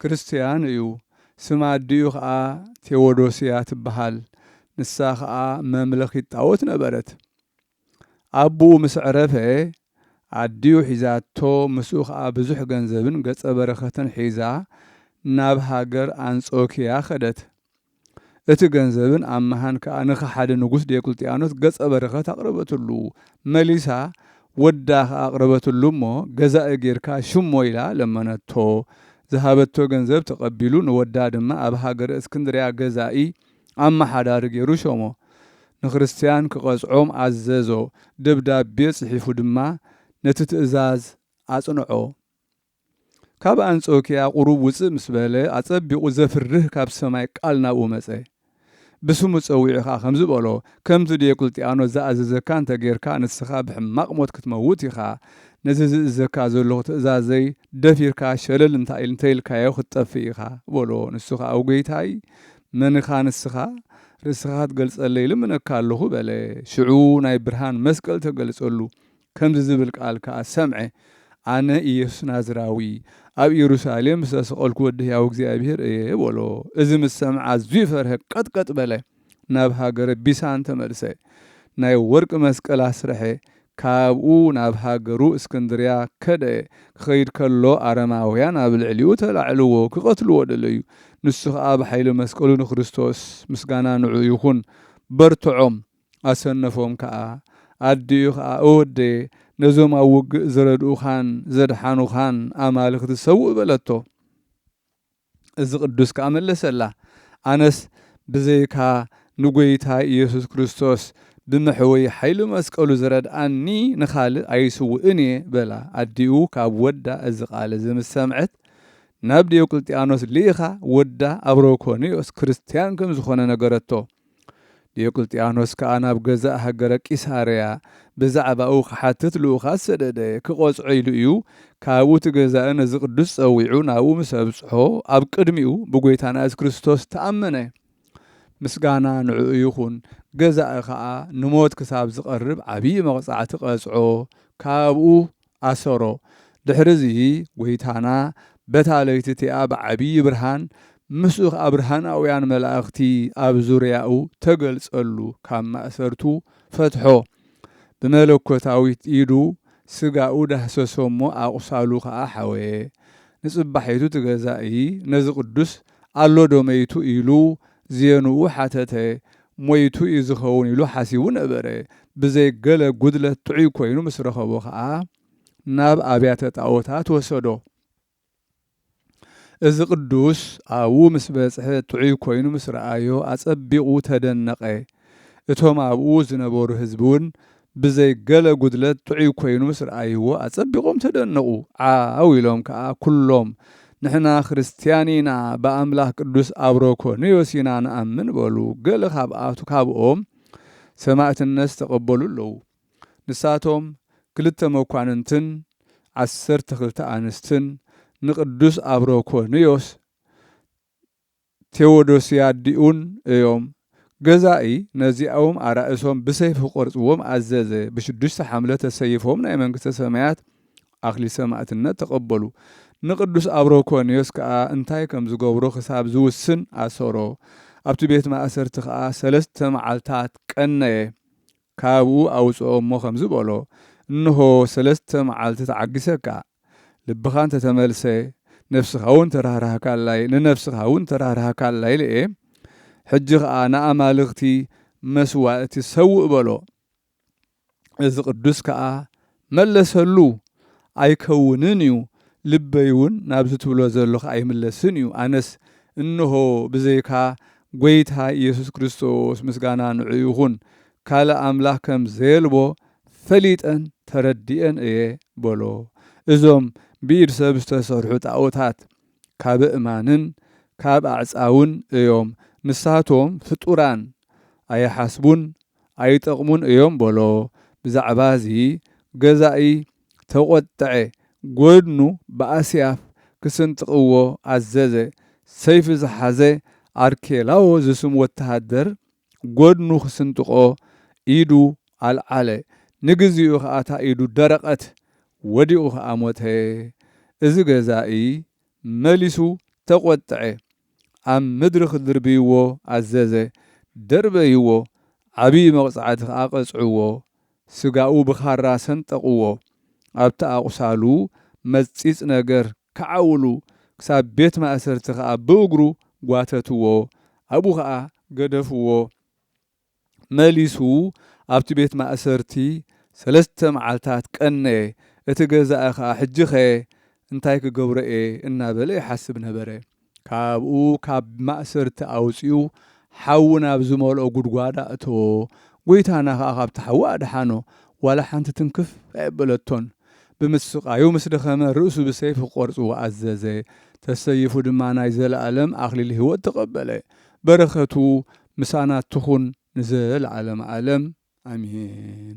ክርስትያን እዩ፣ ስም ኣዲኡ ኸኣ ቴዎዶስያ ትበሃል፣ ንሳ ኸኣ መምለኺት ጣኦት ነበረት። ኣቡኡ ምስ ዕረፈ፣ ኣዲኡ ሒዛቶ፣ ምስኡ ኸኣ ብዙሕ ገንዘብን ገጸ በረኸትን ሒዛ ናብ ሃገር ኣንጾክያ ከደት። እቲ ገንዘብን ኣምሃን ከኣ ንከሓዲ ንጉስ ዲዮቅልጥያኖስ ገጸ በረከት ኣቅረበትሉ። መሊሳ ወዳ ከኣ ኣቅረበትሉ እሞ ገዛኢ ጌርካ ሽሞ ኢላ ለመነቶ። ዝሃበቶ ገንዘብ ተቀቢሉ ንወዳ ድማ ኣብ ሃገረ እስክንድርያ ገዛኢ፣ ኣማሓዳሪ፣ ጌሩ ሾሞ። ንክርስትያን ክቀጽዖም ኣዘዞ። ደብዳቤ ጽሒፉ ድማ ነቲ ትእዛዝ ኣጽንዖ። ካብ ኣንጾኪያ ቁሩብ ውጽእ ምስ በለ ኣጸቢቁ ዘፍርህ ካብ ሰማይ ቃል ናብኡ መጸ ብስሙ ጸዊዑ ከኣ ከምዚ በሎ ከምቲ ዲዮቅልጥያኖስ ዝኣዘዘካ እንተ ጌርካ ንስካ ብሕማቅ ሞት ክትመውት ኢካ ነዚ ዝእዘካ ዘሎኩ ትእዛዘይ ደፊርካ ሸለል እንተ ኢልካዮ ክትጠፍእ ኢካ በሎ ንሱ ከኣ ኣው ጌይታይ መን እካ ንስካ ርእስካ ክትገልጸለይ እልምነካ ኣሎኩ በለ ሽዑ ናይ ብርሃን መስቀል ተገልጸሉ ከምዚ ዝብል ቃል ከኣ ሰምዐ፣ ኣነ ኢየሱስ ናዝራዊ፣ ኣብ ኢየሩሳሌም ዝተሰቐልኩ ወዲ ሕያው እግዚኣብሔር እየ፣ በሎ። እዚ ምስ ሰምዐ ኣዝዩ ፈርሀ፣ ቀጥቀጥ በለ፣ ናብ ሃገረ ቢሳን ተመልሰ፣ ናይ ወርቂ መስቀል ኣስረሐ፣ ካብኡ ናብ ሃገሩ እስክንድርያ ከደ፣ ክኸይድ ከሎ ኣረማውያን ኣብ ልዕሊኡ ተላዕልዎ፣ ክቐትልዎ ደለዩ፣ ንሱ ከኣ ብኃይሊ መስቀሉ ንክርስቶስ፣ ምስጋና ንዕኡ ይኹን፣ በርትዖም፣ ኣሰነፎም ከኣ። ኣዲኡ ከኣ እወደየ ነዞም ኣብ ውግእ ዝረድኡኻን ዘድሓኑኻን ኣማልኽቲ ሰውእ በለቶ። እዚ ቅዱስ ከኣ መለሰላ ኣነስ ብዘይካ ንጐይታይ ኢየሱስ ክርስቶስ ብመሕወዪ ሓይሊ መስቀሉ ዝረድኣኒ ንኻልእ ኣይስውእን እየ በላ። ኣዲኡ ካብ ወዳ እዚ ቃል እዚ ምስ ሰምዐት ናብ ዲዮቅልጥያኖስ ልኢኻ ወዳ ኣብሮኮንዮስ ክርስትያን ከም ዝኾነ ነገረቶ። ዲዮቅልጥያኖስ ከኣ ናብ ገዛእ ሃገረ ቂሳርያ ብዛዕባኡ ኺሓትት ልኡኻት ሰደደ። ኪቖጽዖ ኢሉ እዩ፣ ካብኡ እቲ ገዛኢ ነዚ ቅዱስ ጸዊዑ ናብኡ ምስ ኣብጽሖ፣ ኣብ ቅድሚኡ ብጐይታና የሱስ ክርስቶስ ተኣመነ። ምስጋና ንዕኡ ይኹን። ገዛኢ ኸኣ ንሞት ክሳብ ዚቐርብ ዓብዪ መቕጻዕቲ ቐጽዖ፣ ካብኡ ኣሰሮ። ድሕሪ እዚ ጐይታና በታ ለይቲ እቲኣ ብዓብዪ ብርሃን ምስኡ ኸኣ ብርሃናውያን መላእኽቲ ኣብ ዙርያኡ ተገልጸሉ፣ ካብ ማእሰርቱ ፈትሖ፣ ብመለኮታዊት ኢዱ ሥጋኡ ዳህሰሶ እሞ ኣቝሳሉ ኸኣ ሐወየ። ንጽባሒቱ እቲ ገዛኢ ነዚ ቅዱስ ኣሎ ዶ መይቱ ኢሉ ዝየንኡ ሓተተ። ሞይቱ እዩ ዝኸውን ኢሉ ሓሲቡ ነበረ። ብዘይ ገለ ጉድለት ጥዑይ ኮይኑ ምስ ረኸቦ ከኣ ናብ ኣብያተ ጣኦታት ወሰዶ። እዚ ቅዱስ ኣብኡ ምስ በጽሐ ጥዑይ ኮይኑ ምስ ረኣዮ ኣጸቢቑ ተደነቐ። እቶም ኣብኡ ዝነበሩ ህዝቢውን ብዘይ ገለ ጉድለት ጥዑይ ኮይኑ ምስ ረኣይዎ ኣጸቢቖም ተደነቑ። ዓው ኢሎም ከኣ ኩሎም፣ ንሕና ክርስትያን ኢና፣ ብኣምላኽ ቅዱስ ኣብሮኮንዮስ ኢና ንኣምን በሉ። ገለ ካብኣቱ ካብኦም ሰማእትነት ዝተቐበሉ ኣለዉ። ንሳቶም ክልተ መኳንንትን ዓሰርተ ክልተ ኣንስትን ንቅዱስ ኣብሮኮንዮስ ቴዎዶስያ ዲኡን እዮም። ገዛኢ ነዚኣኡም ኣራእሶም ብሰይፊ ክቖርጽዎም ኣዘዘ። ብሽዱሽተ ሓምለ ተሰይፎም ናይ መንግስተ ሰማያት ኣክሊል ሰማእትነት ተቐበሉ። ንቅዱስ ኣብሮኮንዮስ ከኣ እንታይ ከም ዝገብሮ ክሳብ ዝውስን ኣሰሮ። ኣብቲ ቤት ማእሰርቲ ከኣ ሰለስተ መዓልታት ቀነየ። ካብኡ ኣውጽኦ'ሞ ከምዚ በሎ እንሆ ሰለስተ መዓልቲ ተዓጊሰካ። ልብኻ እንተ ተመልሰ፣ ነፍስኻውን ተራህራህካላይ፣ ንነፍስኻውን ተራህራህካላ ኢለ እየ፣ ሕጂ ኸኣ ንኣማልኽቲ መስዋእቲ ሰውእ በሎ። እዚ ቕዱስ ከኣ መለሰሉ፣ ኣይከውንን እዩ፣ ልበይውን ናብዚ ትብሎ ዘሎኻ ኣይምለስን እዩ፣ ኣነስ እንሆ ብዘይካ ጐይታ ኢየሱስ ክርስቶስ፣ ምስጋና ንዕኡ ይኹን፣ ካልእ ኣምላኽ ከም ዘየልቦ ፈሊጠን ተረዲኤን እየ በሎ። እዞም ብኢድ ሰብ ዝተሰርሑ ጣኦታት ካብ እማንን ካብ ኣዕጻውን እዮም፣ ንሳቶም ፍጡራን ኣይሓስቡን ኣይጠቕሙን እዮም በሎ። ብዛዕባዚ ገዛኢ ተቖጠዐ፣ ጎድኑ ብኣስያፍ ክስንጥቕዎ ኣዘዘ፣ ሰይፊ ዝሓዘ ኣርኬላዎ ዝስም ወተሃደር ጐድኑ ክስንጥቆ ኢዱ ኣልዓለ። ንግዜኡ ከኣ እታ ኢዱ ደረቐት፣ ወዲቑ ከኣ ሞተ። እዚ ገዛኢ መሊሱ ተቈጥዐ፣ ኣብ ምድሪ ክድርብይዎ ኣዘዘ፣ ደርበይዎ፣ ዓብዪ መቕጻዕቲ ከኣ ቀጽዕዎ። ስጋኡ ብኻራ ሰንጠቕዎ፣ ኣብቲ ኣቝሳሉ መጽጺጽ ነገር ክዓውሉ ክሳብ ቤት ማእሰርቲ ከኣ ብእግሩ ጓተትዎ ኣብኡ ከኣ ገደፍዎ መሊሱ ኣብቲ ቤት ማእሰርቲ ሰለስተ መዓልታት ቀነየ እቲ ገዛኢ ከኣ ሕጂኸ እንታይ ክገብሮ እየ እናበለ ይሓስብ ነበረ ካብኡ ካብ ማእሰርቲ ኣውጺኡ ሓዊ ናብ ዝመልኦ ጉድጓድ ኣእተዎ፣ ጐይታና ኸኣ ካብቲ ሓዊ ኣድሓኖ፣ ዋላ ሓንቲ ትንክፍ ኣየበለቶን። ብምስቃዩ ምስ ደኸመ ርእሱ ብሰይፊ ክቖርጽዎ ኣዘዘ፣ ተሰይፉ ድማ ናይ ዘለኣለም ኣኽሊል ህይወት ተቐበለ። በረኸቱ ምሳና ትኹን ንዘለዓለመ ዓለም ኣሜን።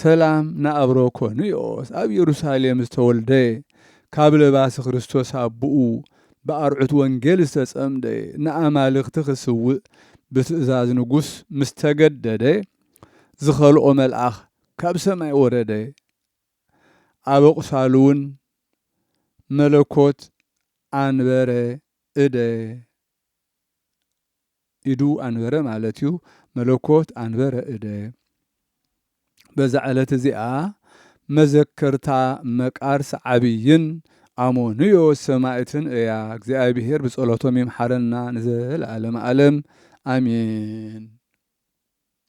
ሰላም ንኣብሮ ኮንዮስ ኣብ የሩሳሌም ዝተወልደ ካብ ለባሲ ክርስቶስ ኣቡኡ ብኣርዑት ወንጌል ዝተጸምደ ንኣማልኽቲ ክስውእ ብትእዛዝ ንጉስ ምስ ተገደደ ዝኸልኦ መልኣኽ ካብ ሰማይ ወረደ ኣብ ኣቝሳሉውን መለኮት ኣንበረ እደ ኢዱ ኣንበረ ማለት እዩ፣ መለኮት ኣንበረ እደ። በዛ ዕለት እዚኣ መዘከርታ መቃርስ ዓብይን ኣሞኑዮ ሰማእትን እያ፣ እግዚኣብሔር ብጸሎቶም ይምሓረና ንዘለዓለመ ኣለም ኣሜን።